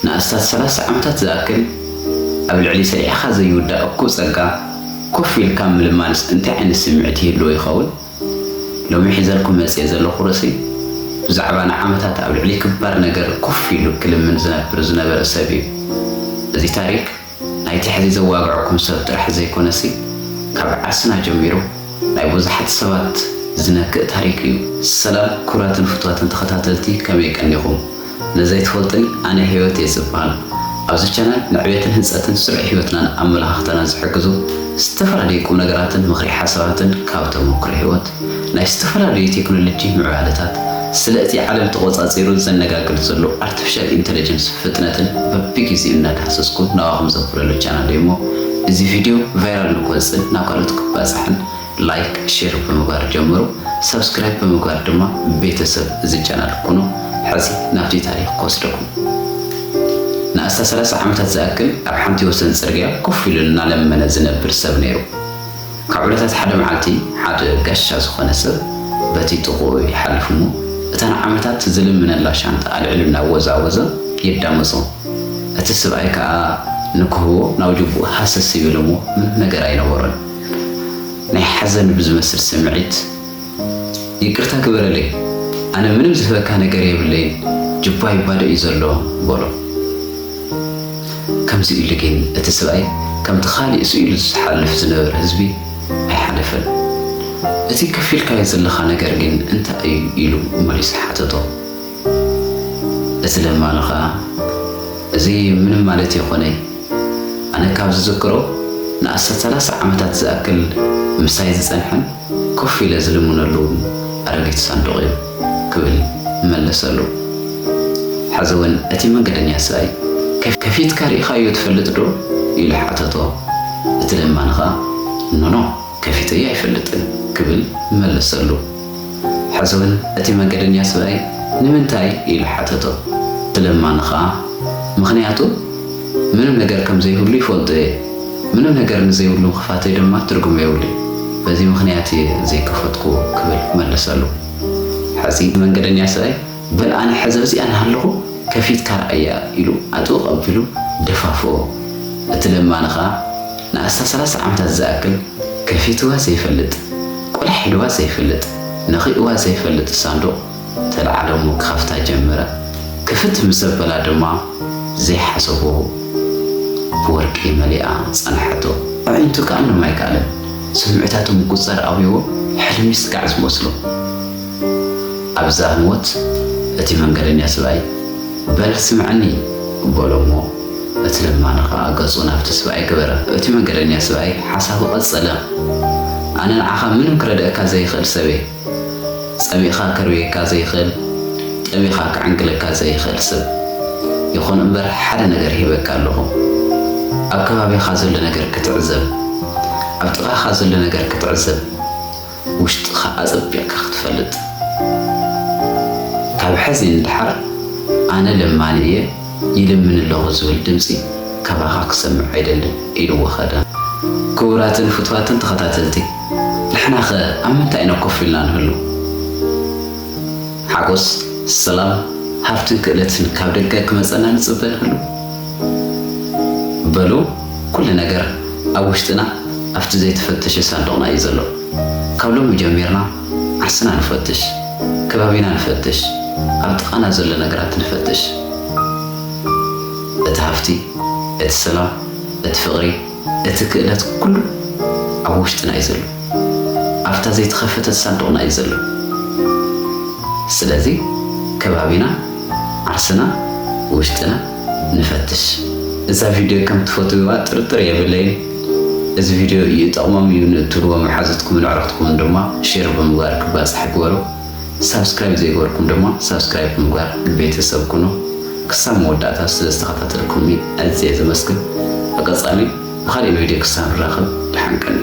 ንኣስታት ሰላሳ ዓመታት ዝኣክል ኣብ ልዕሊ ሰሪሕኻ ዘይውዳእ እኩብ ጸጋ ኮፍ ኢልካ ምልማንስ እንታይ ዓይነት ስምዒት ይህልዎ ይኸውን? ሎሚ ሒዘልኩም መጺኤ ዘለኹ ርእሲ ብዛዕባ ንዓመታት ኣብ ልዕሊ ክባር ነገር ኮፍ ኢሉ ክልምን ዝነብር ዝነበረ ሰብ እዩ። እዚ ታሪክ። ናይቲ ሕዚ ዘዋግዐኩም ሰብ ጥራሕ ዘይኮነሲ ካብ ዓርስና ጀሚሩ ናይ ቡዙሓት ሰባት ዝነክእ ታሪክ እዩ። ሰላም ኩቡራትን ፍትዋትን ተከታተልቲ ከመይ ቀኒኩም ነዘይ ትፈልጡኒ ኣነ ሂወት እየ ዝባሃል ኣብዚ ቻናል ንዕቤትን ህንጸትን ስሩዕ ሂወትናን ኣመላካክታናን ዝሕግዙ ዝተፈላለዩ ቁምነገራትን ምክሪ ሓሳባትን ካብ ተሞክሮ ሂወት ናይ ዝተፈላለዩ ቴክኖሎጂ ምዕባለታት፣ ስለ እቲ ዓለም ተቖጻጺሩ ዘነጋግድ ዘሎ ኣርቲፊሻል ኢንተለጀንስ ፍጥነትን በብጊዜኡ እናዳህሰስኩ ናባኹም ዘውፍረሉ ቻናለይ እሞ እዚ ቪድዮ ቫይራል ንክወጽእን ናብ ካልኦት ክባጻሕን ላይክ ሼር ብምግባር ጀምሩ ሳብስክራይብ ብምግባር ድማ ቤተሰብ እዚ ቻናል ኩኑ ሐዚ ናብቲ ታሪኽ ክወስደኩም ንኣስታት ሰላሳ ዓመታት ዝኣክል ኣብ ሓንቲ ወሰን ጽርግያ ኮፍ ኢሉ እናለመነ ዝነብር ሰብ ነይሩ። ካብ ዕለታት ሓደ መዓልቲ ሓደ ጋሻ ዝኾነ ሰብ በቲ ጥቕኡ ይሓልፍ እሞ እታ ንዓመታት ዝልምነላ ሻንጣ ኣልዒሉ እናወዛወዘ የዳምጾ። እቲ ስብኣይ ከኣ ንክህቦ ናብ ጁቡኡ ሃሰስ ይብል እሞ ምንም ነገር ኣይነበሮን። ናይ ሓዘን ብዝመስል ስምዒት። ይቅርታ ግበረለይ ኣነ ምንም ዝህበካ ነገር የብለይን ጅባ ይባደእ እዩ ዘሎ በሎ ከምዚ ኢሉ ግን እቲ ስብኣይ ከምቲ ካሊእ ስኢሉ ዝሓልፍ ዝነበረ ህዝቢ ኣይሓለፈን እቲ ከፊልካዮ ዘለካ ነገር ግን እንታይ እዩ ኢሉ መሊሱ ሓተቶ እዚ ደማ ንኸኣ እዚ ምንም ማለት የኮነይ ኣነ ካብ ዝዝክሮ ንኣስታት ሰላሳ ዓመታት ዝኣክል ምሳይ ዝጸንሐን ኮፍ ኢለ ዝልምነሉውን ኣረጊት ሳንዱቕ እዩ ክብል መለሰሉ። ሕዚውን እቲ መንገደኛ ስኣይ ከፊትካ ርኢኻዮ ትፈልጥዶ ኢሉ ሓተቶ። እቲ ደማ ንኸኣ ኖኖ ከፊተዮ ኣይፈልጥን ክብል መለሰሉ። ሕዝውን እቲ መንገደኛ ሰብኣይ ንምንታይ? ኢሉ ሓተቶ። ብለማኒ ኸኣ፣ ምኽንያቱ ምንም ነገር ከም ዘይብሉ ይፈልጦ እየ። ምንም ነገር ንዘይብሉ ምኽፋተይ ድማ ትርጉም የብሉን። በዚ ምኽንያት እየ ዘይከፈትኩዎ ክብል መለሰሉ። ሕዚ መንገደኛ ሰብኣይ፣ በል ኣነ ሕዚ ኣብዚኣ እናሃለኹ ከፊትካ ርኣያ ኢሉ ኣጥብቕ ኣቢሉ ደፋፍኦ። እቲ ለማኒ ከኣ ንኣስታት ሰላሳ ዓመታት ዝኣክል ከፊትዋ ዘይፈልጥ፣ ቁሊሕ ኢልዋ ዘይፈልጥ፣ ነኺእዋ ዘይፈልጥ ሳንዱቕ ተልዓሎ እሞ ክኸፍታ ጀመረ። ክፍት ምስ ኣበላ ድማ ዘይሓሰቦ ብወርቂ መሊኣ ጸንሓቶ። ኣዒንቱ ክኣልም ኣይከኣለን። ስምዒታቱ ምቁጽጻር ኣብዩዎ ሕልሚ ስጋዕ ዝመስሎ። ኣብዛ ህሞት እቲ መንገደኛ ስብኣይ፣ በል ስምዐኒ፣ በሎ እሞ፣ እቲ ለማኒ ኸኣ ገጹ ናብቲ ስብኣይ ገበረ። እቲ መንገደኛ ስብኣይ ሓሳቡ ቀጸለ፣ ኣነ ንዓኻ ምንም ክረድኣካ ዘይኽእል ሰብ እየ። ጸሚእካ ከርብየካ ዘይኽእል፣ ጠሚኻ ክዕንግለካ ዘይኽእል ሰብ። ይኹን እምበር ሓደ ነገር ሂበካ ኣለኹ፣ ኣብ ከባቢኻ ዘሎ ነገር ክትዕዘብ፣ ኣብ ጥቓኻ ዘሎ ነገር ክትዕዘብ። ውሽጥኻ ኣጸቢቕካ ክትፈልጥ። ካብ ሕዚ ንደሓር ኣነ ለማኒ እየ፣ ይልምን ኣለኹ ዝብል ድምጺ ካባኻ ክሰምዕ ኣይደልን ኢልዎ ከደ። ክቡራትን ፍትዋትን ተኸታተልቲ ንሕናኸ ኣብ ምንታይ ኢና ኮፍ ኢልና ንህሉ? ሓጎስ፣ ሰላም፣ ሃብትን ክእለትን ካብ ደገ ክመጸና ንጽበ ንህሉ? በሉ ኩሉ ነገር ኣብ ውሽጥና ኣብቲ ዘይተፈተሸ ሳንዱቕና እዩ ዘሎ። ካብ ሎሚ ጀሚርና ዓርስና ንፈትሽ፣ ከባቢና ንፈትሽ፣ ኣብ ጥቓና ዘሎ ነገራት ንፈትሽ። እቲ ሃፍቲ፣ እቲ ሰላም፣ እቲ ፍቕሪ፣ እቲ ክእለት ኩሉ ኣብ ውሽጥና እዩ ዘሎ። ኣብታ ዘይተኸፈተት ሳንዱቕና እዩ ዘሎ። ስለዚ ከባቢና፣ ዓርስና፣ ውሽጥና፣ ንፈትሽ። እዛ ቪድዮ ከም ትፈትውዋ ጥርጥር የብለይን። እዚ ቪድዮ ይጠቕሞም እዩ ንእትብልዎ መሓዙትኩምን ኣዕሩኽትኩምን ድማ ሼር ብምግባር ክባፃሕ ግበሩ። ሳብስክራይብ ዘይገበርኩም ድማ ሳብስክራይብ ብምግባር ቤተሰብ ኩኑ። ክሳብ መወዳእታ ስለ ዝተኸታተልኩምኒ ኣዝየ ዘመስግን። ብቐፃሊ ብኻሊእ ቪድዮ ክሳብ ንራኸብ ደሓን ቀንዩ።